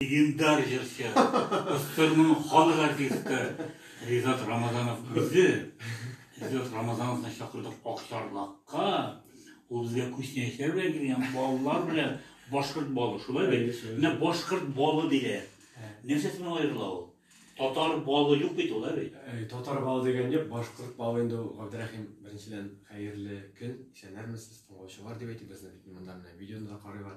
Легендар җырчы, СССРның халык артисты Ризат Рамазанов үзе, Ризат Рамазановны чакырдык Акчарлакка, ул безгә Күчнәчләр белән килгән балалар белән башкорт балы, шулай бит? Менә башкорт балы диләр. Нәрсәсеннән аерыла ул? Татар балы юк бит ул, ә бит? Татар балы дигән юк, башкорт балы инде ул, Габдрәхим, беренчедән, хәерле көн, исәннәрмесез, тыңлаучылар дип әйтик, безне бит монда менә видеоны да карыйлар.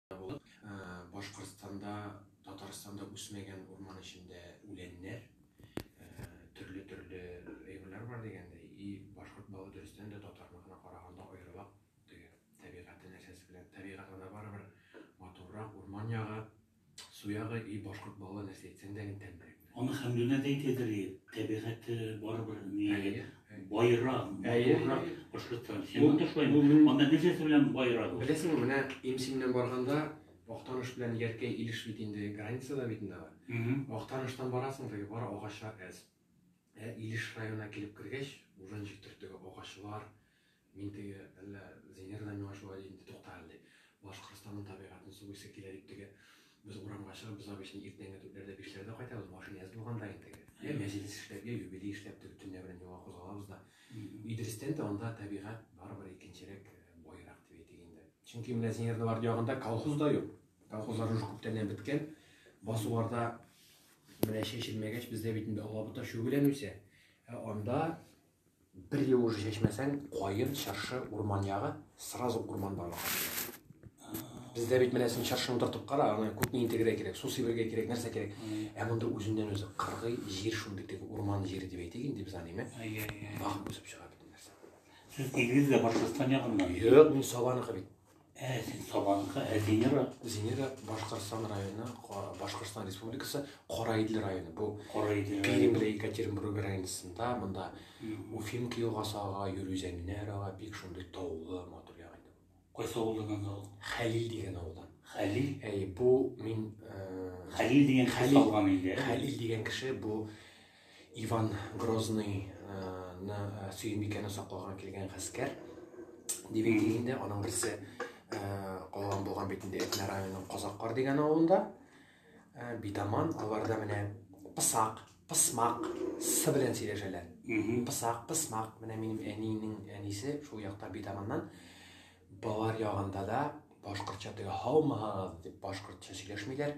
Булып, Башкортстанда, Татарстанда үсмәгән урман эчендә үләннәр, төрле-төрле әйберләр бар дигәндәй, и башкорт балы дөрестән дә татарныкына караганда аерыла теге табигате нәрсәсе белән. Табигат анда барыбер матуррак, урман ягы, су ягы, и башкорт балы нәрсә әйтсәң дә тәмлерәк. Аны Хәмдүнә дә әйтәдер, табигате барыбер ни байрак, матуррак башкорттан. Син монда шулай. Анда нәрсәсе белән байрак? Беләсеңме, менә Имсиннән барганда Актаныш белән Яркәй Илеш бит инде границада бит инде алар. Актаныштан барасың, теге бар агачлар әз. Ә Илеш районына килеп кергәч, уже ничек төртеге агачлар, Мин теге, әллә Зинер дә миңа шулай дидеме, тукта әле, ди. Башкортстанның табигатен сугыйсы килә дип теге, без урамга чыгып, без обычно иртәнге дүртләрдә, бишләрдә кайтабыз, машина әз булганда инде теге. Йә мәҗлес эшләп, йә юбилей эшләп теге төнлә белән юлга кузгалабыз да. Идрестән дә анда табигать барыбер икенчерәк, баерак дип әйтик инде. Чөнки менә Зинернең арты ягында колхоз да юк. Колхозлар уже күптәннән беткән. Басуларда менә чәчелмәгәч, бездә бит инде алабута, чүгелән үсә. Ә анда Бер ел уже чәчмәсәң, каен, чыршы, урман ягы, сразу урман барлыкка килә. Бездә бит менә син чыршыны утыртып кара, аны күпме интегрә кирәк, су сибергә кирәк, нәрсә кирәк. Ә монда үзеннән үзе кыргый җир шундый теге урман җире дип әйтик инде без аныйме? Әйе, әйе. Вак үсеп чыга бит нәрсә. Сез килдегез дә Башкортстан ягыннан. Юк, мин Сабаныкы бит. Ә син Сабанка, ә Зинера? Зинера Башкортстан районы, Башкортстан Республикасы, Караидле районы. Бу Караидле Пермь белән Екатеринбург границасында, монда Уфимка елгасы ага, Юрүзәнне ага, бик шундый таулы, матур ягы иде. Кайсы авылдан анда ул? Хәлил дигән авылдан. Хәлил? Әй, бу мин э, Хәлил дигән кеше Хәлил дигән кеше бу Иван Грозный ны Сөембикәне сакларга килгән гаскәр дип әйтик инде, аның берсе калган булган бит инде Әтнә районының Казаккар дигән авылында. Битаман аларда менә пысак, пысмак, сы белән сөйләшәләр. Пысак, пысмак, менә минем әниенең әнисе шул якта Битаманнан. Балар ягында да башкортча теге һаумыһагыз дип башкортча сөйләшмиләр.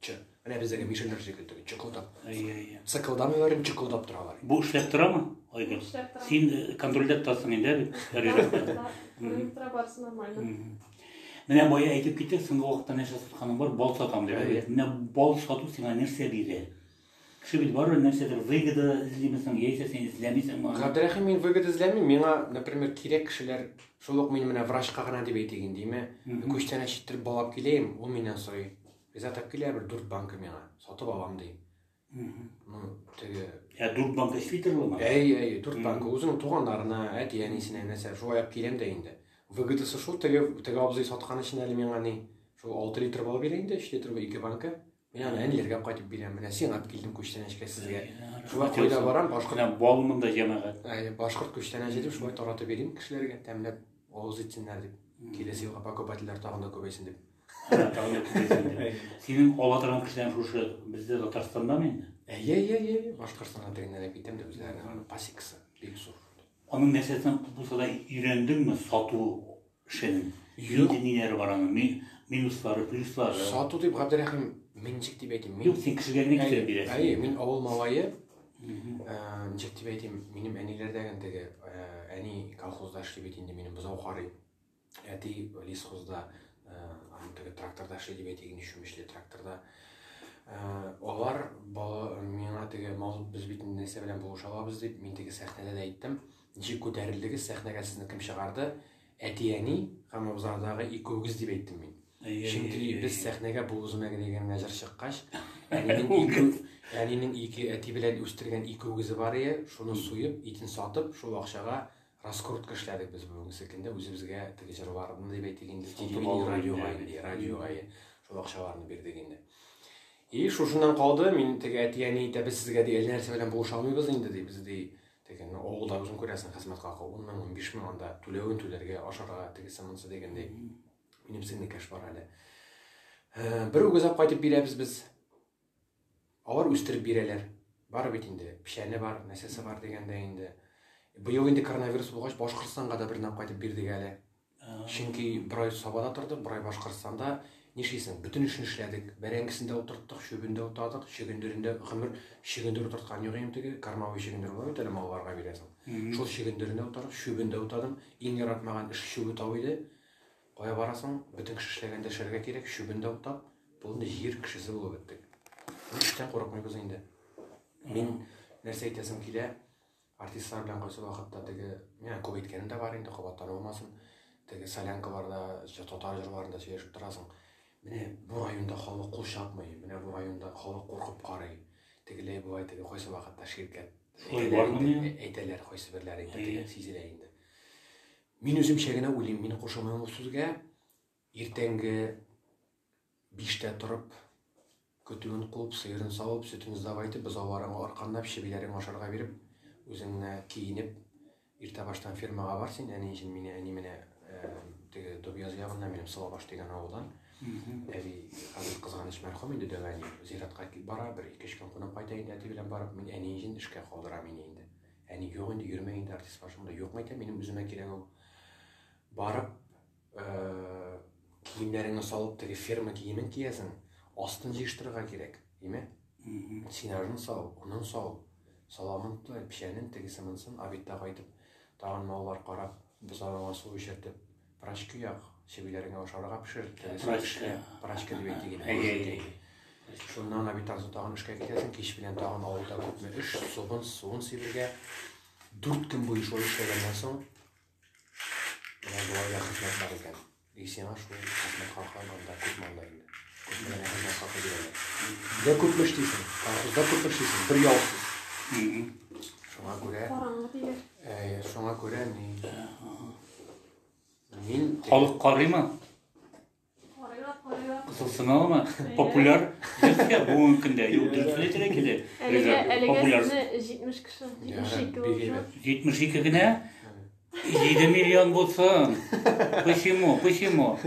Чы. Менә бездәге мишәрләр шикелле теге чыкылдап. Әйе, әйе. Сыкылдамыйлар, инде чыкылдап торалар. Бу эшләп торамы? Айгөл. Эшләп тора. Син э, контрольдә тотасың инде әле. Барысында, проектра барысы нормально. Мгм. Менә бая әйтеп китте, соңгы вакытта нәрсә сатканың бар, бал сатам дип. Әйе. Менә бал сату сиңа нәрсә бирә? Кеше бит барыбер нәрсәдер выгода эзлиме соң, яисә син эзләмисеңме аны? Габдрәхим, мин выгода эзләмим, миңа, например, кирәк кешеләр, шул ук мин менә врачка гына дип әйтик инде, име, күчтәнәч читтертеп балап киләем, ул миннән сорый, риза тап килә бер дүрт банка миңа, сатып алам ди. Ну, теге... Ә дүрт банка эшли торыла ма? Әй, әй, дүрт банка, үзенең туганнарына, әти, әнисенә, нәрсә, шулай алып киләм дә инде. Выгодасы шул, теге, теге абзый саткан өчен әле миңа ни, шул алты литр балып бирә инде, өч литр, ике банка. Менә аны әни ергә кайтып бирәм. Менә сиңа алып килдем күчтәнәчкә сезгә. Шулай кайда барам, башкорт. Менә балмын да җәмәгать. Әйе, башкорт күчтәнәче дип шулай таратып йөрим кешеләргә, тәмләп авыз итсеннәр дип. Киләсе елга покупательләр тагын да күбәйсен дип. Тагын да күбәйсен дип. Синең ала торган кешеләр шушы бездә Татарстандамы инде? Әйе, әйе, әйе. Башкортстаннан тегеннән әкитәм дә үзләренең аны пасекасы бик зур. Аның нәрсәсен булса да өйрәндеңме сату эшен? Юк. Нинди ниләре бар аның? Ми- Минуслары, плюслары. Сату дип Габдерәхим, мин ничек дип әйтим? Мин Юк, син кешегә генә Әйе, китереп бирәсең. әйе, мин авыл малае. Мгм. Ә, Ничек дип әйтим, минем әниләрдәген теге, ә, әни колхозда эшли бит инде, минем бозау карый. Әти лесхозда, аны теге тракторда эшли дип әйтик, ни чүмечле тракторда. Алар миңа теге мазут без бит нәрсә белән булыша алабыз дип, мин теге сәхнәдә дә әйттем. Ничек күтәрелдегез, сәхнәгә сезне кем чыгарды? Әти-әни һәм абзардагы икәүгез дип әйттем мин. Чөнки без сәхнәгә бу үземә генә дигән мәҗәр чыккач, әнинең ике әнинең ике әти белән үстергән икәүгезе бар иде, шуны суеп, итен сатып, шул акчага Раскрутка эшләдек без бүгенге көндә үзебезгә теге җырларны дип әйтик инде телевидение радиога инде радиога шул акчаларны бирдек инде и шушыннан калды мин теге әти әни әйтә без сезгә ди әллә нәрсә белән булыша алмыйбыз инде ди без ди теге ну авылда үзең күрәсең хезмәт хакы ун мең унбиш мең анда түләвен түләргә ашарга тегесе монысы дигәндәй минем сеңлекәш бар әле бер үгезәп кайтып бирәбез без Алар үстереп бирәләр. Бар бит инде, печәне бар, нәрсәсе бар дигәндә инде. Быел инде коронавирус булгач, Башкортстанга да бернәп кайтып бирдек әле. Чөнки бер ай Сабада тордык, бер ай Башкортстанда. Нишлисең, бөтен эшен эшләдек. Бәрәңгесен дә утырттык, чүбен дә утадык, чөгендерен дә гомер чөгендер утырткан юк инде теге кормовой чөгендер була бит әле малларга бирәсең. Шул чөгендерен дә утадык, чүбен дә утадым. Иң яратмаган эш чүбе тау иде. Кая барасың? Бөтен кеше эшләгән дәшәргә кирәк, чүбен дә утап, бүген җир кешесе булып беттек. Ни эштән курыкмыйбыз инде. Мин нәрсә әйтәсем килә, артистлар белән кайсы вакытта теге, менә күп әйткәнем дә бар инде, кабаттан булмасын. Теге солянкаларда, татар җырларында сөйләшеп торасың. Менә бу районда халык кул чапмый, менә бу районда халык куркып карый. Тегеләй була, теге кайсы вакытта ширкәт. Шулай бар инде. Әйтәләр, кайсы берләре инде, сизелә инде. Мин үземчә генә уйлыйм, мин кушылмыйм ул сүзгә. Иртәнге биштә торып, көтүен куып, сыерын савып, сөтен сдавай итеп, бозауларың арканлап, чебиләрен ашарга биреп, үзең генә киенеп, иртә баштан фермага бар син, әни өчен мине, әни менә теге Дубьяз ягыннан, минем Сылабаш дигән авылдан. Әби хәзер кызганыч мәрхүм инде, дәвә ни, зиратка кип бара, бер ике-өч көн кунып кайта инде әти белән барып, мин әни өчен эшкә калдырам мине инде. Әни, юк инде, йөрмә инде, артист каршымда юкмы икән, минем үземә кирәк ул. Барып, э, киемнәреңне салып, теге ферма киемен киясең, астын җыештырырга кирәк, име? Синажын сал, унын сал, саламын тыл, печәнен тегесе монсын, обедта кайтып, тагын маллар карап, бозауга су эчертеп, Прачки як, сеңелләреңә ашарга пешер, теләсә эшлә, прачки дип әйтик инде. Әйе, әйе. Шуннан аны бит арзу тагын эшкә китәсең, кич белән тагын авылда күпме эш, суын, суын сибергә. Дүрт көн буе шулай эшләгәннән соң, менә болай да хезмәт бар икән. И сиңа шул хезмәт хакы анда күпме анда инде. Күпме генә хезмәт хакы бирәләр. Дә күпме эшлисең, колхозда күпме эшлисең, бер ялсыз. Шуңа күрә, Караңгы диләр. э, шуңа күрә ни, Мин халык карыймы? Карыйлар, карыйлар. Кысылсыналымы? Популяр җырчы бүгенге көндә. Юк, дөресен әйтергә килә. Әлегә, әлегә Популяр. сезне 70 кеше, 72 булса. 72 генә? 7 миллион булсын. Почему? Почему?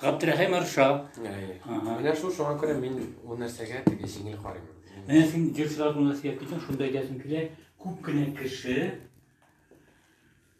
Габдрәхим Арша. Ага. Менә шул шуңа күрә мин ул нәрсәгә теге җиңел карыйм. Менә син җырчылар турында сөйләп китсәң, шунда әйтәсең килә, күп кенә кеше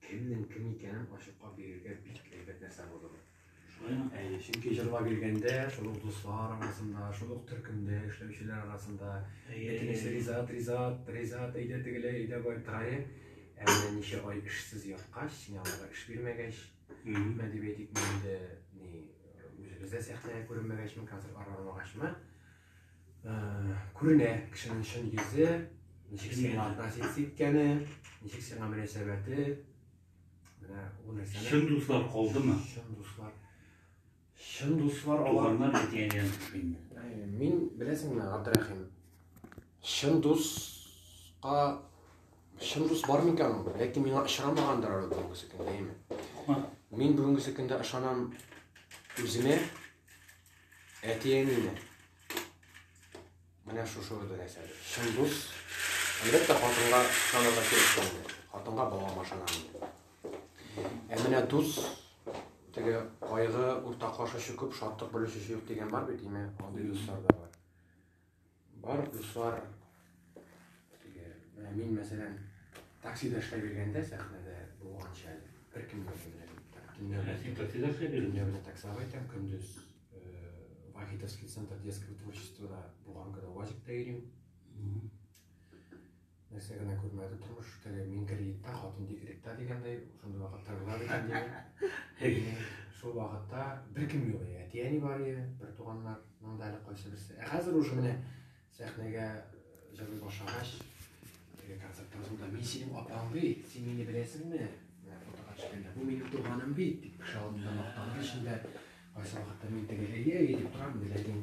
Кемнең кем икәнен ачыклап бирергә бик әйбәт нәрсә булды бу. Шулаймы? Әйе, чөнки җырлап йөргәндә, шул ук дуслар арасында, шул ук төркемдә эшләүчеләр арасында, әйтегез, Ризат, Ризат, Ризат, әйдә тегеләй, әйдә бай трае. Ә менә ничә ай эшсез яткач, синаларга эш бирмәгәч, мә дип әйтик, инде ни, үзебез дә сәхнәгә күренмәгәчме, концертлар бармагачмы, күренә кешенең чын йөзе, ничек сиңа относиться иткәне, ничек сиңа мөнәсәбәте. Менә ул нәрсәне. Чын дуслар калдымы? Чын дуслар. Чын дуслар алар. Туганнар әтиәннән төшкәндә. Ә, мин беләсеңме, Абдрахим? Чын дуска чын дус бар микән ул? Ләкин миңа очрамагандыр ул бүгенге көндә, әйме? Мин бүгенге көндә ышанам үземә, Әти-әнине. Менә шушы бер нәрсәдер. Чын дус. Әлбәттә, хатынга ышанырга кирәк түгел. Хатынга балам ышана инде. Ә менә дус, теге кайгы уртаклашучы күп, шатлык бүлешүче юк дигән бар бит, име, андый дуслар да бар. Бар дуслар, менә мин мәсәлән, таксида эшләп йөргәндә сәхнәдә булганча әле, бер кем дә белмәде. Төнләрне таксида эшләп йөрдем. Төнләрне таксида әйтәм, көндез Вахитовский центр детского творчества булган көне УАЗикта йөрим. Нәрсә генә күрмәде тормыш, теге мин кредитта, хатын декретта дигәндәй, шундый вакытта була бит инде. Шул вакытта беркем юк, әти-әни бар иде, бер туганнарның да әле кайсы берсе. Ә хәзер уже менә сәхнәгә җырлый башлагач, теге концерт торганда мин синең апаң бит, син мине беләсеңме? Фотога төшкәндә, бу минем туганым бит, дип кеше алдында мактану эчендә кайсы вакытта мин теге әйе, әйе дип торам, ләкин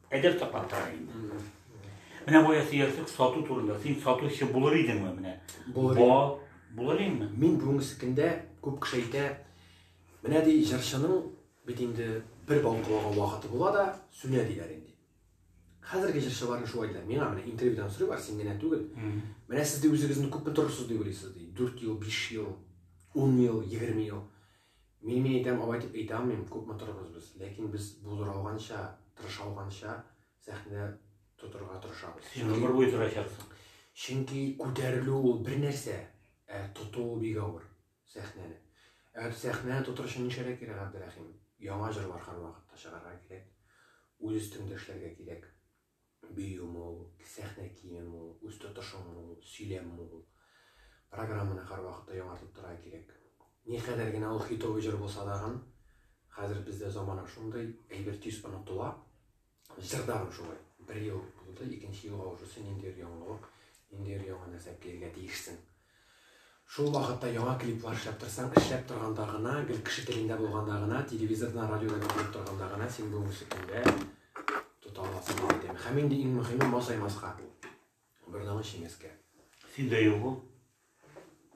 Әдәп саклап тора инде. Менә бая сөярсек сату турында. Син сатучы булыр идеңме менә? Булыр. Ба, булыр инде. Мин бүгенге көндә күп кеше әйтә, менә ди җырчының бит инде бер балкылаган вакыты була да сүнә диләр инде. Хәзерге җырчыларны шулай диләр. Миңа менә интервьюдан сорыйлар, син генә түгел. Менә сез ди үзегезне күпме торырсыз дип уйлыйсыз ди. 4 ел, 5 ел, 10 ел, 20 ел. Мин мин әйтәм алай дип әйтә алмыйм, күп матурбыз без, ләкин без булдыралганча, тырышалганча сәхнә тотырга тырышабыз. Син гомер буе тырачаксың. Чөнки күтәрелү ул бер нәрсә, ә тоту ул бик авыр сәхнәне. Ә сәхнәне тотыр өчен нишләргә кирәк, Габдерәхим? Яңа җырлар һәрвакытта чыгарга кирәк, үз өстеңдә эшләргә кирәк. бию мул, сәхнә киеме мул, үз тотышың мул, сөйләм мул. Программаны һәрвакытта яңартып торырга кирәк. Никадәр генә ул хитовый җыр булса тагын, хәзер бездә замана шундый, әйбер тиз онытыла. Җыр да шулай. Бер ел булды, икенче елга уже син ниндидер яңалык, ниндидер яңа нәрсә килергә тиешсең. Шул вакытта яңа клиплар эшләп торсаң, эшләп торганда гына, гел кеше телендә булганда гына, телевизордан, радиодан әйтелеп торганда гына син бүгенге көндә тота аласың дип әйтәм. Һәм инде иң мөһиме масаймаска. Бордаңы чиңәскә. Синдә юк ул.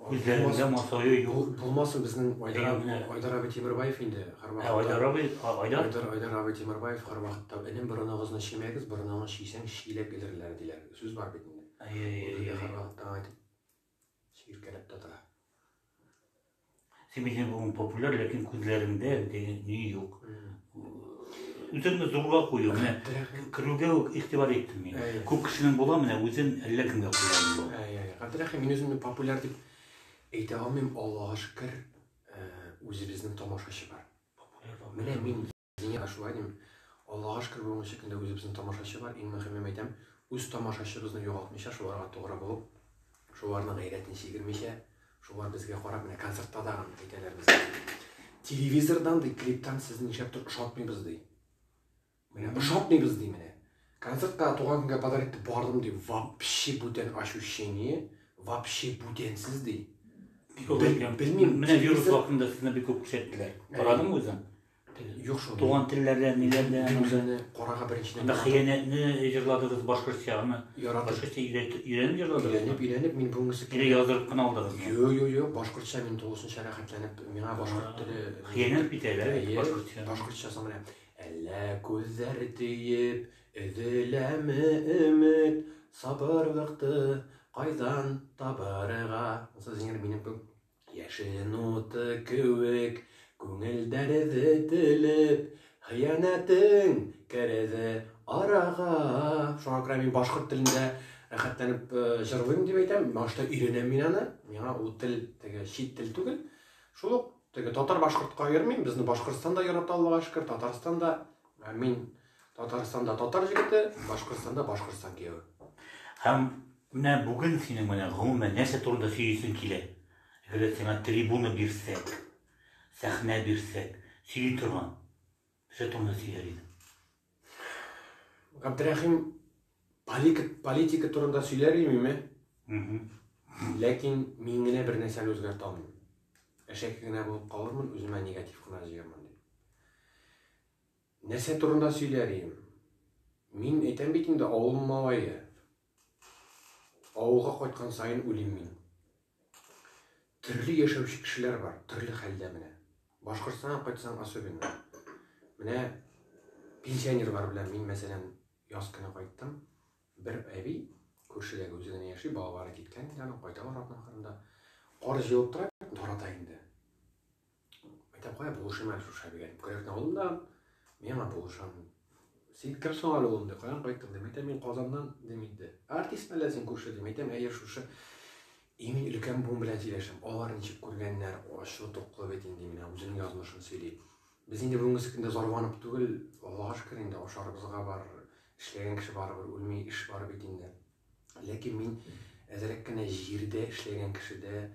Үзләрендә масаю юк. Булмасын безнең Айдар абый Тимербаев инде һәрвакытта. Ә Айдар абый, Айдар? Айдар, Айдар абый Тимербаев һәрвакытта энем борыныгызны чимәгез, борыныгызны чисәң чиләк элерләр диләр. Сүз бар бит инде. Син мин бүгін популяр, ләкин күзләреңдә андый ни юк. Үзеңне зурга кую, менә керүгә үк игътибар иттем мин. Күп кешенең була, менә үзен әллә кемгә куя инде. Габдрахи, мин үземне популяр дип әйтә алмыйм, Аллага шөкер, үзебезнең тамашачы бар. Популяр, популяр. Менә мин Зинә ашулай дим. Аллага шөкер бүгенге шикелле үзебезнең тамашачы бар, иң мөһимен әйтәм, үз тамашачыбызны югалтмыйча, шуларга тугры булып, шуларның гайрәтен чигермичә, шулар безгә карап, менә концертта да аны әйтәләр безгә. Телевизордан ди, клиптан сез нишләптер ошатмыйбыз ди. Менә ошатмыйбыз ди менә. Концертка туган көнгә подарок итеп бардым ди, вообще бүтән ощущение, вообще бүтәнсез ди. Бик олы икән. Белмим. Менә вирус вакытында сезне бик күп күрсәттеләр. Карадыңмы үзең? Юк шул. Туган телләрдән, ниләрдән. Мин үземне карага беренчедән. Анда хыянәтне җырладыгыз башкортча, аны башкортча өйрәнеп җырладыгыз. Өйрәнеп, өйрәнеп, мин бүгенгесе килә яздырып кына алдыгыз. Юк, юк, юк, башкортча мин тулысынча рәхәтләнеп, миңа башкорт теле. Хыянәт бит әле башкортча. Башкортча соң менә. Әллә күзләр тиеп, өзеләме өмет, сабырлыкты кайдан табарга? Сез инде минем Яшен уты кеүек күңел дәрде телеп, хыянәтең керде арага. Шуңа күрә мин башкорт телендә рәхәтләнеп җырлыйм дип әйтәм. Башта өйрәнәм мин аны. Миңа ул тел теге чит тел түгел. Шул ук теге татар-башкортка йөрмим. Безне Башкортстан да ярата Аллага шөкер, Татарстан да. Мин Татарстанда татар җегете, Башкортстанда Башкортстан кияве. Һәм Менә бүген синең белән гомумән нәрсә турында сөйлисең килә? Әгәрдә сиңа трибуна бирсәк, сәхнә бирсәк, сөйли торган нәрсә турында сөйләр идең? Габдрәхим, политика, политика турында сөйләр имеме? Ләкин мин генә бер нәрсәне үзгәртә алмыйм. Әшәке генә булып калырмын, үземә негатив кына җыярмын дип. Нәрсә турында сөйләр идем? Мин әйтәм бит инде, авыл малае. Авылга кайткан саен уйлыйм мин. Төрле яшәүче кешеләр бар, төрле хәлдә менә. Башкортстанга кайтсаң особенно. Менә пенсионерлар белән мин, мәсәлән, яз көне кайттым. Бер әби күршедәге үзе генә яши, балалары киткән инде аның, кайталар атның кырында. Кар җылып тора, тарата инде. Әйтәм, кая булышыйм әле шушы әлегә дип, Кырык авылында миңа булышам. Син кем соң әле улым дип, каян кайттың дип, әйтәм, мин Казаннан дим инде. Артист әллә син күрше дип, әйтәм, әйе шушы имин өлкән буын белән сөйләшәм. Алар ничек күргәннәр, ачлы туклы бит инде менә үзенең язмышын сөйли. Без инде бүгенге көндә зарванып түгел, Аллага шөкер инде ашарыбызга бар, эшләгән кеше барыбер үлми, эш бар бит инде. Ләкин мин әзрәк кенә җирдә эшләгән кешедә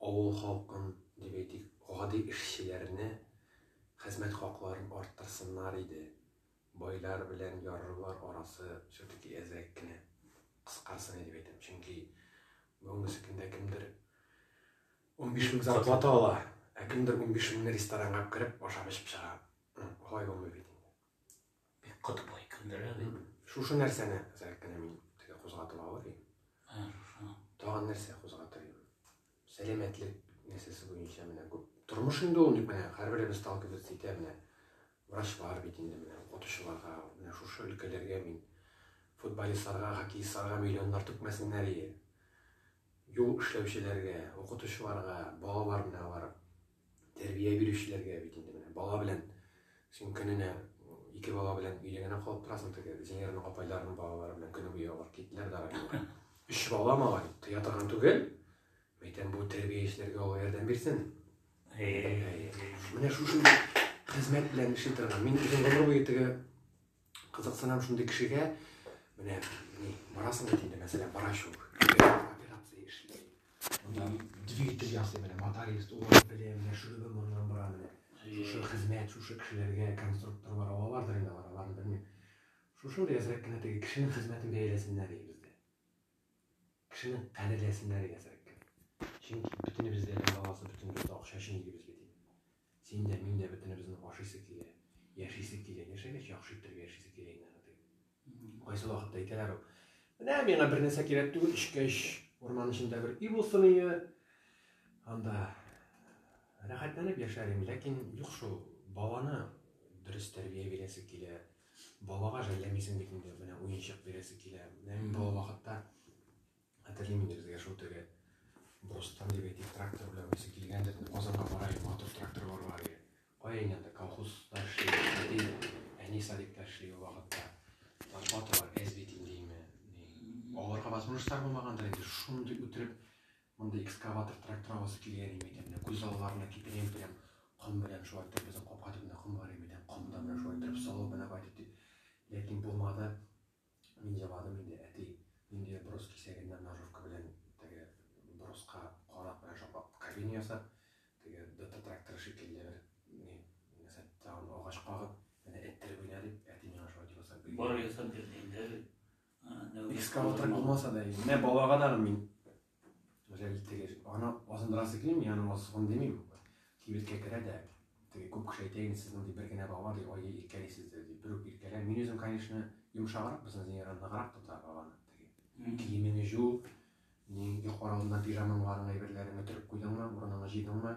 Авыл халкын, дип әйтик, гади эшчеләрне хезмәт хакларын арттырсыннар иде. Байлар белән ярлылар арасы все-таки әзрәк кенә кыскарсын иде, дип әйтәм. Чөнки бүгенге көндә кемдер унбиш мең зарплата ала, ә кемдер унбиш меңне ресторанга кереп ашап-эчеп чыга. Алай булмый бит инде. Бик каты бай кендерә бит. Шушы нәрсәне зәк кенә мин теге кузгатып алыр идем. Ә, шушы. Тагын нәрсә кузгатыр идем? Сәламәтлек нәрсәсе буенча менә күп. Тормыш инде ул ник менә һәрберебез сталкиваться итә менә. Врач бар бит инде менә укытучыларга, менә шушы өлкәләргә мин футболистларга, хоккеистларга миллионнар түкмәсеннәр ие. Юл эшләүчеләргә, укытучыларга, балалар менә барып Тәрбия бирүчеләргә бит инде менә бала белән син көненә ике бала белән өйдә генә калып торасың теге Зинерның апайларының балалары белән көне буе алар киттеләр дә районга. Өч бала малай, тыя торган түгел. Мәйтәм бу тәрбиячеләргә Алла ярдәм бирсен. Менә шушы хезмәт белән эшли торган. Мин үзем гомер буе теге Кызыксынам шундый кешегә, менә ни, барасың бит инде, мәсәлән, врач ул. Операция эшли. Монда двигатель ясый менә, моторист, улар белә, менә шөребе моннан бара менә. Шушы хезмәт, шушы кешеләргә конструкторлар алалардыр инде алар, аларны белмим. Шушындый әзрәк кенә теге кешенең хезмәтен бәяләсеннәр иде бездә. Кешене кадерләсеннәр иде әзрәк кенә. Чөнки бөтенебез дә баласы, бөтенебез дә акча өчен йөрибез бит. Син дә, мин дә бөтенебезнең ашыйсы килә, яшисе килә. Яшәгәч, яхшы иттереп яшисе килә инде аны, дип. Кайсы вакытта әйтәләр ул. Менә миңа бернәрсә кирәк түгел, эчкәч, урман эчендә бер өй булсын иде. Анда рәхәтләнеп яшәр идем, ләкин юк шул. Баланы дөрес тәрбия бирәсе килә. Балага жәлләмисең бит инде, менә уенчык бирәсе килә. Менә мин бала вакытта Хәтерлим инде безгә шул теге Бростан дип әйтик, трактор белән үзе килгәндер, Казанга бара иде, матур тракторлар бар иде. Кая инде анда колхозда эшли, әни садикта эшли ул вакытта. Лопаталар әз бит индеме. Аларга возможностьлар булмагандыр инде, шундый үтереп, мондый экскаватор трактор аласы килгән иде икән. Күз алларына китерәм, прям ком белән шулай итеп безнең капка төбенә ком бар иде, прям комда белән шулай итеп салып менә кайтып дип. Ләкин булмады. Мин җыладым инде, әти, нинди брус кисәгеннән ножовка белән теге бруска карак белән шаплап кабина ясап, теге ДТ тракторы шикелле бер ни, нәрсә, тагын агач кагып, менә эттереп уйна дип, әти миңа шулай дип ясап бирде. Бар ясап бирде инде. Экскаватор булмаса да, менә балага да мин Гүзәл теге аны азындырасы килми, мин аны азсыгын димим. Кибеткә керә дә, теге күп кеше әйтә инде, сез мондый бер генә бала ди, ой, иркәлисез дә ди, бер үк иркәлә. Мин үзем, конечно, йомшаграк, безнең Зиниран ныграк тота баланы. Теге киемеңне җу, юк аралына пижамаңларыңны, әйберләреңне төреп куйдыңмы, урыныңны җыйдыңмы,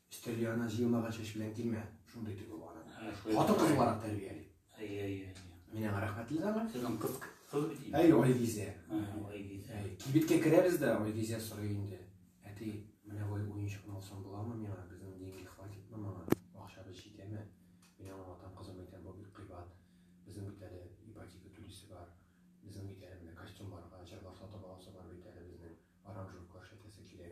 Өстәл янына җыелмаган чәч белән килмә, шундый тегү бар аны. Хатын кыз буларак тәрбияли. Әйе, әйе. Мин аңа рәхмәтле дәме. Сезнең кыз кыз бит инде. Әйе, Айгизә. Айгизә. Әйе, кибеткә керәбез дә, Айгизә сорый инде. Әти, менә бу уенчыкны алсам буламы миңа? Безнең деньги хватитмы моңа? Акчабыз җитәме? Мин аңа атам кызым әйтәм, бу бик кыйбат. Безнең бит әле ипотека түлисе бар. Безнең бит әле менә костюмнарга, җырлар сатып аласы бар бит әле безнең. Аранжировка эшләтәсе килә.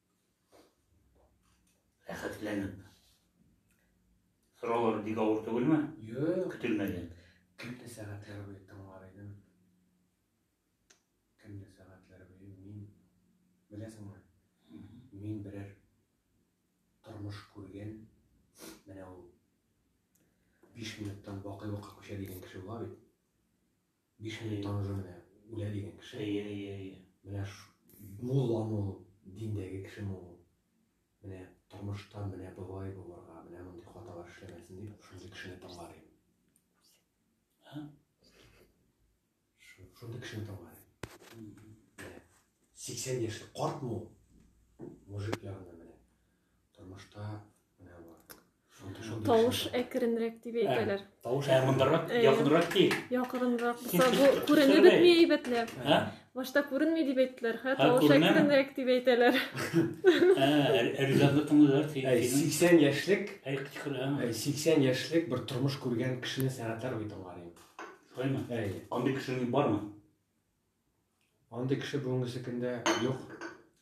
Рәхәтләнеп. Сораулар бик авыр түгелме? Юк. Көтелмәгән. Көнне сәгатьләр буе тыңлар идем. Көнне сәгатьләр буе мин беләсеңме? Мин берәр тормыш күргән. Менә ул 5 минуттан бакый вакыт күчә дигән кеше була бит. Биш минут таныжу менә үлә дигән кеше. Әйе, әйе, әйе. Менә мулламы ул, диндәге кешеме ул? Менә тормышта менә болай булырга, менә мондый хаталар эшләмәсен дип, шундый кешене тыңлар идем. Шундый кешене тыңлар идем. 80 яшьлек картмы ул? Мужик ягында менә. Тормышта Тавыш әкренрәк дип әйтәләр. Тавыш әкренрәк, якынрак ки. Якынрак булса, бу күренеп бетми әйбәтләп. Башта күренми дип әйттеләр, хә, тавыш әкренрәк дип әйтәләр. Ә, ризаклы тыңлыйлар. 80 яшьлек, 80 яшьлек бер тормыш күргән кешене сәгатьләр бит алар инде. Шулаймы? Әйе. Андый кешең бармы? Андый кеше бүгенге секендә юк.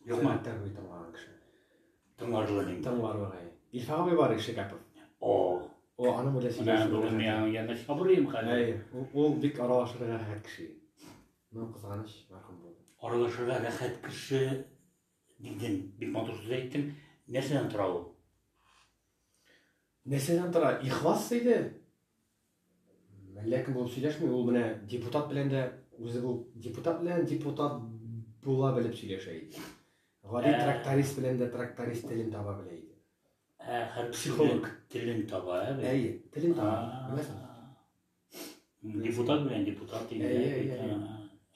Юк ма? Тәр бит тыңлаган кеше. Тыңларлык инде. Тыңларлык әй. Илфа абый бар ише капов. О. О, аны бүлә син. Менә бу мин яңа сабырым хәзер. Әй, ул бик аралашырга рәхәт кеше. Ну, кызганыч, мәрхүм булды. Аралашырга рәхәт кеше дидең. Бик матур сүз әйттең. Нәрсәдән тора ул? Нәрсәдән тора? Ихлас иде. Ләкин бу сөйләшми, ул менә депутат белән дә үзе бу депутат белән депутат була белеп сөйләшә иде. Гади ә... тракторист белән дә тракторист телен таба белә иде. Ә, хәр психолог телен таба, ә? Әйе, телен таба. Беләсең? Депутат белән депутат инде. Әйе, әйе.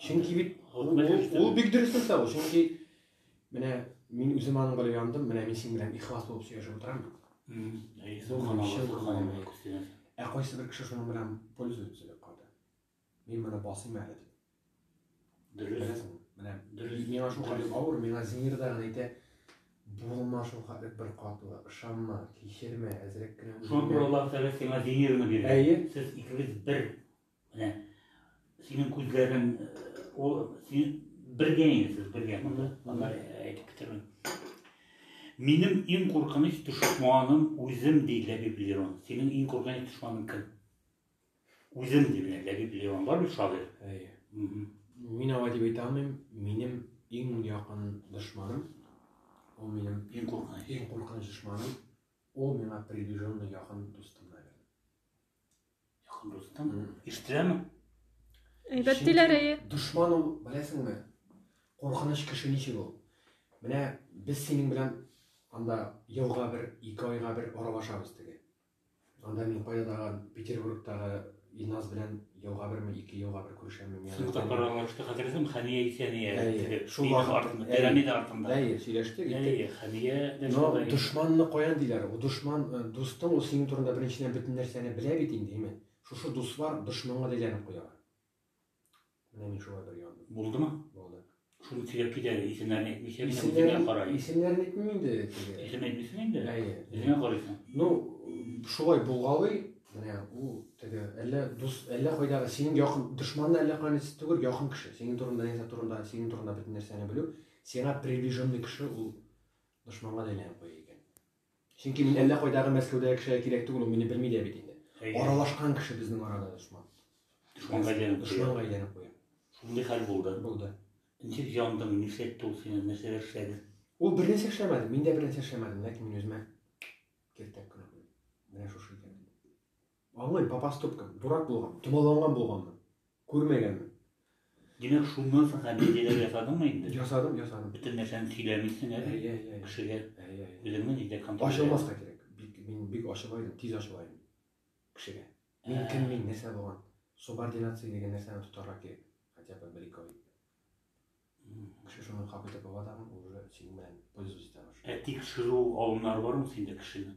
Чөнки бит ул бик дөрес нәрсә ул, чөнки Менә мин үзем аның белән яндым, менә мин синең белән ихлас булып сөйләшеп утырам. Ә кайсы бер кеше шуның белән пользуется дип калды. Мин моны басыйм әле дип. Дөрес. Менә дөрес. Миңа шул кадәр авыр, миңа зинер дә гына әйтә, булма шул кадәр бер катлы, ышанма, кичермә, әзрәк кенә. Шуңа күрә Аллаһ Тәгалә сиңа зинерны бирде. Әйе. Сез икегез бер Менә синең күзләрең ул син бергә инде сез бергә монда. Анда әйтеп китермим. Минем иң куркыныч дошманым үзем ди Ләбиб Лерон. Синең иң куркыныч дошманың кем? Үзем ди менә Ләбиб Лерон бар бит шагыйрь. Әйе. Мин алай дип әйтә алмыйм. Минем иң якын дошманым ул минем иң куркыныч иң куркыныч дошманым ул миңа приближенный якын дустым наверное Дустым, ишетеләме? Әйбәт диләр әйе. Дошман ул, беләсеңме? Куркыныч кеше ничек ул? Менә без синең белән анда елга бер, ике айга бер аралашабыз теге. Анда мин кайдадагы Петербургтагы Илназ белән елга берме, ике елга бер Күрше мин Сез тапкыр аралашты, хәтерләсәм, Хәния Исәния. Әйе, шул артында. Пирамида артында. Әйе, сөйләштек. Әйе, Хәния дә шулай. Но дошманны каян диләр? Ул дошман, э, дустың ул синең турында беренчедән бөтен нәрсәне белә бит инде, имин. Шушы дуслар дошманга да әйләнеп куялар. Менә мин шулай бер яндым. Булдымы? Булды. Шуны сөйләп кит әле, исемнәрен әйтмичә генә үзеңә карай. Исемнәрен әйтмим инде теге. Исем әйтмисең инде? Әйе. Үзеңә карыйсың. Ну, шулай булгалый, менә ул теге әллә дус, әллә кайдагы синең якын дошманны әллә кайны түгел, якын кеше. Синең турында, нәрсә турында, синең турында бөтен нәрсәне белү, сиңа приближенный кеше ул дошманга да әйләнеп куя икән. Чөнки мин әллә кайдагы Мәскәүдәге кешегә кирәк түгел, ул мине белми дә бит инде. Аралашкан кеше безнең арада дошман. Дошманга әйләнеп куя. Дошманга әйләнеп куя. Шундый хәл булды. Булды. Ничек яндың, нишләтте ул сине, нәрсәләр эшләде? Ул бер нәрсә эшләмәде, мин дә бер нәрсә эшләмәдем, ләкин мин үземә киртәк кенә куйдым. Менә шушы икән. Аңлыйм, попаступка, дурак булган, томаланган булганмын. Күрмәгәнмен. Димәк, шуннан соң комедияләр ясадыңмы инде? Ясадым, ясадым. Бөтен нәрсәне сөйләмисең әле. Әйе, әйе, әйе. Кешегә. Әйе, әйе. Үзеңне нидә контроль итә? Ачылмаска кирәк. Бик, мин бик ачыла идем, тиз ачыла идем. Кешегә. Мин кем, мин нәрсә булган? Субординация дигән нәрсәне тотарга кирәк. Хотя бы бер-ике ай. Кеше шуны кабул итеп ала тагын, уже синең белән пользоваться итә башлый. Ә тикшерү алымнары бармы синдә кешене?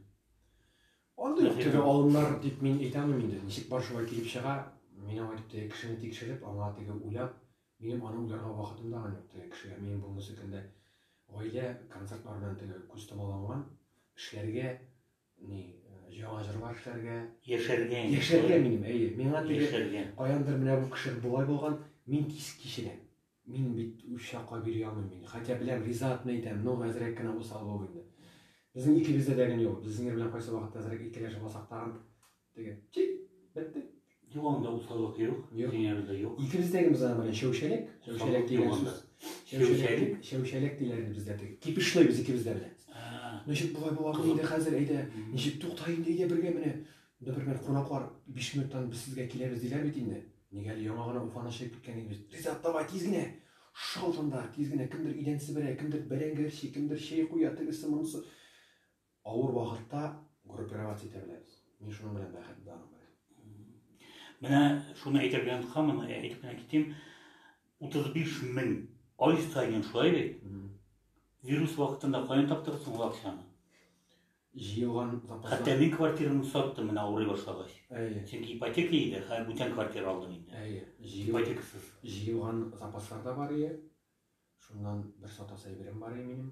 Андый ук теге алымнар дип мин әйтә алмыйм инде. Ничек бар шулай килеп чыга, мин аңа дип теге кешене тикшереп, аңа теге уйлап, минем аны уйларга вакытым да юк теге кешегә. Минем булмысы көндә гаилә, концертлар белән теге күз томаланган, эшләргә, Ни, яңа җырлар эшләргә. Яшәргә. Яшәргә минем, әйе. Миңа теге каяндыр менә бу кеше болай булган, мин кис кичерәм. Мин бит үч чакла бирә алмыйм мин. Хәтя беләм, ризатмы итәм, но әзрәк кенә усал бул инде. Безнең икебездә дә генә юк. Без Зинер белән кайсы вакытта әзрәк икеләшеп алсак тагын Теге. Чик! Бетте. Юк, анда усаллык юк. Юк. Дөньябызда юк. Икебездәгебез генә белән чәүчәлек. Чәүчәлек дигән сүз. Чәүчәлек. Чәүчәлек диләр инде бездә теге. Кипешләйбез икебез дә белән. Ничек болай була бу инде хәзер, әйдә. Ничек тукта инде, әйдә бергә менә. Бер-бер кунаклар 5 минуттан без сезгә киләбез диләр бит инде. Нигә әле яңа гына Уфаны чыгып киткән идек без. Ризат, давай тиз генә. Шалт анда, тиз генә кемдер идән себерә, кемдер бәрәңге әрчи, кемдер чәй куя, тегесе, монысы. Авыр вакытта группировать итә беләбез. Мин шуның белән бәхет барым белән. Менә шуны әйтергә яткан, моны әйтеп кенә китим. 35 мең ай саен шулай бит. Вирус вакытында каян таптырды соң ул акчаны? Җыелган запас. Хәтта мин квартираны саттым менә авырый башлагач. Әйе. Чөнки ипотека иде, хәзер бүтән квартира алдым инде. Әйе. Ипотекасыз. Җыелган запаслар да бар иде. Шуннан бер сатасы әйберем бар иде минем.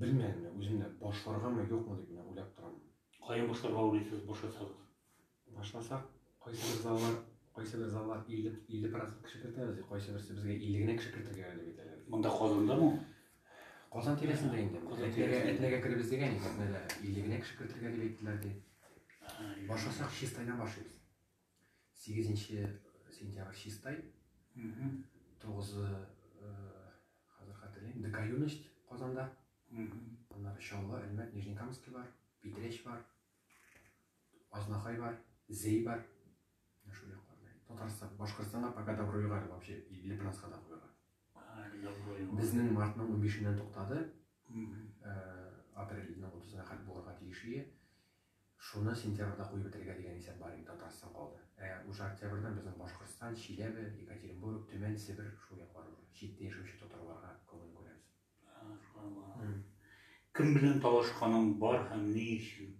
Белмәдім, мен үзем дә башларгамы, юкмы дип менә уйлап торам. Каян башларга уйлыйсыз, башласагыз? Башласак, кайсы бер заллар, кайсы бер заллар 50 50 процент кеше кертәбез, кайсы берсе безгә 50 генә кеше кертергә әле бит әле. Монда Казандамы? Казан тирәсендә инде. Казан тирәсендә. Әтнәгә керебез дигән икән, әтнәдә 50 генә кеше кертергә дип әйттеләр ди. Башласак чистайдан башлыйбыз. Сигезенче сентябрь чистай, тугызы хәзер хәтерлим, ДК юность Казанда. Аннары Чаллы, Әлмәт, Нижнекамский бар, Питрәч бар, Азнакай бар, Зей бар. Шул якларда. Татарстан, Башкортстанга пока добро югары вообще, или Планска да куйга. Безнең мартның 15-ннән туктады. Апрельның 30-на хәт булырга тиеш ие. Шуны сентябрьдә куеп бетерергә дигән исәп бар иде, Татарстан калды. Ә уже октябрьдән безнең Башкортстан, Чиләбе, Екатеринбург, Төмән, Себер, шул яклар уже. Читтә яшәүче татарларга күңел күрәбез. Субханаллаһ. Кем белән талашканың бар һәм ни өчен?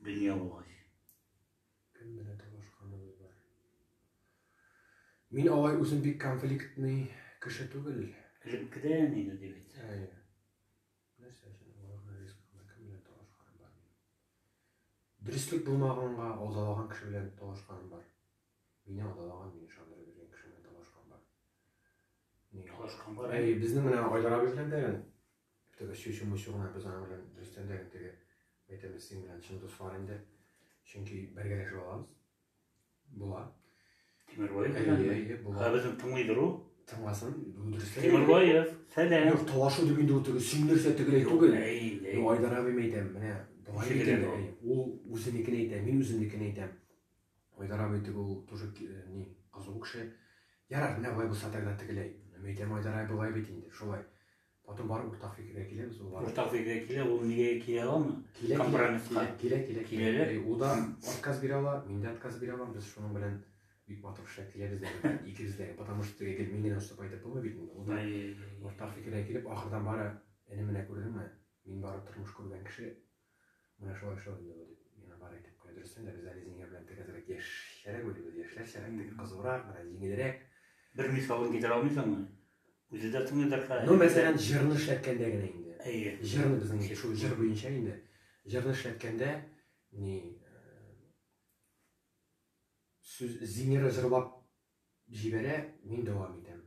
Дөнья булгач. Кем белән талашканыбыз бар? Мин алай үзем бик конфликтный кеше түгел. Элеккедән инде дип әйтсәк. Әйе. Нәрсә өчен авырган риск анда кем белән талашканым бар минем? Дөреслек булмаганга алдалаган кеше белән талашканым бар. Мине алдалаган, мине ышандырып биргән кеше белән талашканым бар. Ни талашкан бар? Әй, безнең менә Айдар абый белән дә теге чүчү-мөчү гына без аның белән дөрестән дә теге әйтәбез син белән чын дуслар инде. Чөнки бергәләшеп алабыз. Була. Тимербаев белән. Әйе, әйе, була. Ә безне тыңлыйдыр ул. Тыңласын, бу дөрес. Тимербаев, сәлам. Юк, талашу дип инде ул теге сөйләрсә тегеләй түгел. Юк, Айдар абыйм әйтәм, менә болай бит инде. Ул үзенекен әйтә, мин үземнекен әйтәм. Айдар абый теге ул тоже э, ни, кызу кеше. Ярар, менә болай булса тогда тегеләй. Мин әйтәм, Айдар абый болай бит инде, шулай. Потом барып уртак фикергә киләбез ул барып. Уртак фикергә килә, ул нигә килә аламы? Килә, компромисс килә. Килә, килә, килә. Э, ул да отказ бирә ала, мин дә отказ бирә алам. Без шуның белән бик матур эшләп киләбез дә, икебез дә. Потому что теге гел мин генә устап әйтеп булмый бит инде. Ул да уртак фикергә килеп, ахырдан бары, әни менә күрдеңме, мин бары тормыш күргән кеше, Менә шулай шул инде бу, дип, миңа бар әйтеп куя. Дөрестән дә, без әле Зинһир белән тек әзрәк яшьчәрәк уйлыйбыз, яшьләрчәрәк, теге кызурак, бераз җиңелрәк. Бер мисалын китерә алмыйсыңмы? Үзе дә тыңлыйдыр хәзер. Ну, мәсәлән, җырны эшләткәндә генә инде. Әйе. Җырны безнең шул җыр буенча инде. Җырны эшләткәндә, ни, сүз Зинһиры җырлап, җибәрә, мин дәвам итәм.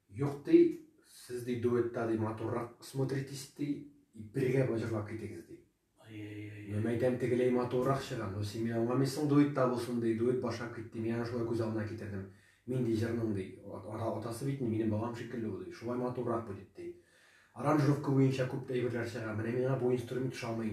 Юк ди, сез ди дуэтта ди матуррак смотритесь ди, бергә җырлап китегез ди. Мин мәйтәм тегеләй матуррак чыга, но син мин аңламыйсың дуэтта булсын ди, дуэт башлап кит ди, мин аны шулай күз алдына китердем. Мин ди җырның ди, атасы бит ни, минем балам шикелле ул ди, шулай матуррак бу дип ди. Аранжировка буенча күп әйберләр чыга, менә миңа бу инструмент ошамый.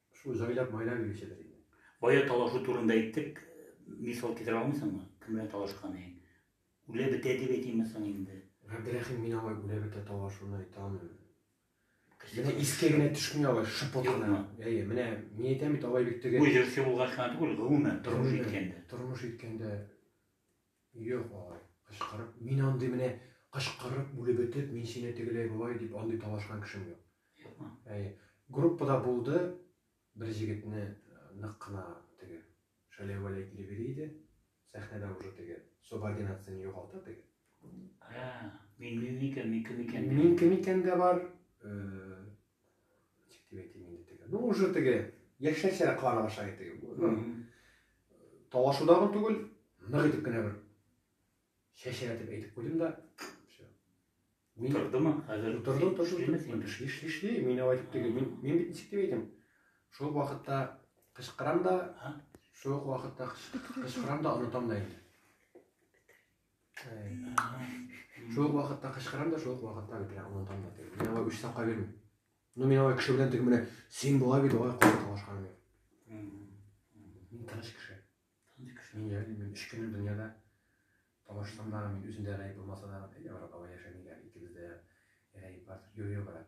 Шул җайлап байлап йөрүчедер инде. Бая талашу турында әйттек, мисал китерә алмыйсыңмы? Кем белән талашкан идең? Үлә бетә дип әйтимме соң инде? Габдрәхим, мин алай үлә бетә талашуны әйтә алмыйм. Менә искә генә төшми алай шыпырт кына. Әйе, менә мин әйтәм бит алай бит теге. Бу җырчы булгач кына түгел, гомумән тормыш иткәндә. Тормыш иткәндә Юк, бабай, кычкырып, мин андый менә кычкырып, үлеп бетеп, мин сине тегеләй болай дип андый талашкан кешем юк. Юкмы? Әйе. Группада булды, бер җегетне нык кына теге шәләвәләй килеп йөри иде. Сәхнәдә уже теге субординацияне югалта теге. Ә, мин мин микән, мин кем икән? Мин кем икән дә бар, Ничек дип әйтим инде теге. Ну уже теге яшьнәсә карап аша итеге. Талашудагы түгел, нык итеп кенә бер чәчәтеп әйтеп куйдым да, Мин... Утырдымы? Хәзер утырды, утырды. Эшли, эшли, эшли. Мин алай итеп теге, мин, мин бит ничек дип әйтәм. Шул вакытта кычкырам да, шул вакытта кычкырам да онытам да инде. Шул вакытта кычкырам да, шул вакытта бит я онытам да. Мин алай үч сакка бирмим. Ну мин алай кеше белән теге менә син була бит алай каты талашкан бит. Мин тыныч кеше. Тыныч кеше. Мин яли мин үч көн дөньяда талашсам да, мин үземдә гәйб булмаса да, Европада яшәмигә икебездә гәйб бар. Юрий брат.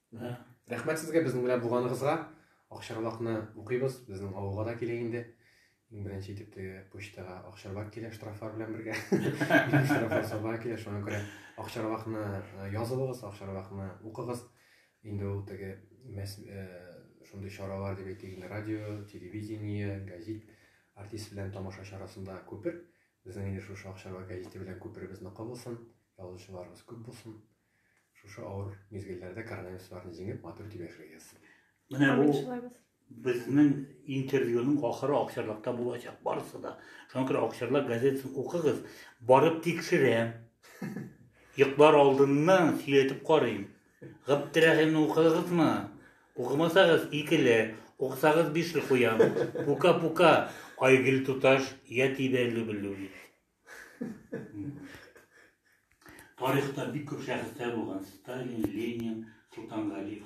Рәхмәт сезгә безнең белән булганыгызга. Акчарлакны укыйбыз, безнең авылга да килә инде. Иң беренче итеп теге почтага акчарлак килә штрафлар белән бергә. Штрафлар саба килә, шуңа күрә акчарлакны э, язылыгыз, акчарлакны укыгыз. Инде ул теге мәс э, шундый чаралар дип әйтик, инде радио, телевидение, газет артист белән тамаша чарасында күпер. Безнең инде шушы акчарлак газеты белән күперебезне кабылсын, язучыларыбыз күп булсын. Шушы авыр мизгелләрдә коронавирусларны җиңеп, матур итеп яшәгез. Менә бу безнең интервьюның ахыры Акчарлакта булачак барысы да. Шуңа күрә Акчарлак газетасын укыгыз, барып тикшерәм. Йоклар алдыннан сөйләтеп карыйм. Габдрәхимне укыдыгызмы? Укымасагыз, икеле, укысагыз бишле куям. Пука-пука, Айгөл туташ, я тебя люблю. Тарихта бик күп шәхесләр булган. Сталин, Ленин, Солтангалиев,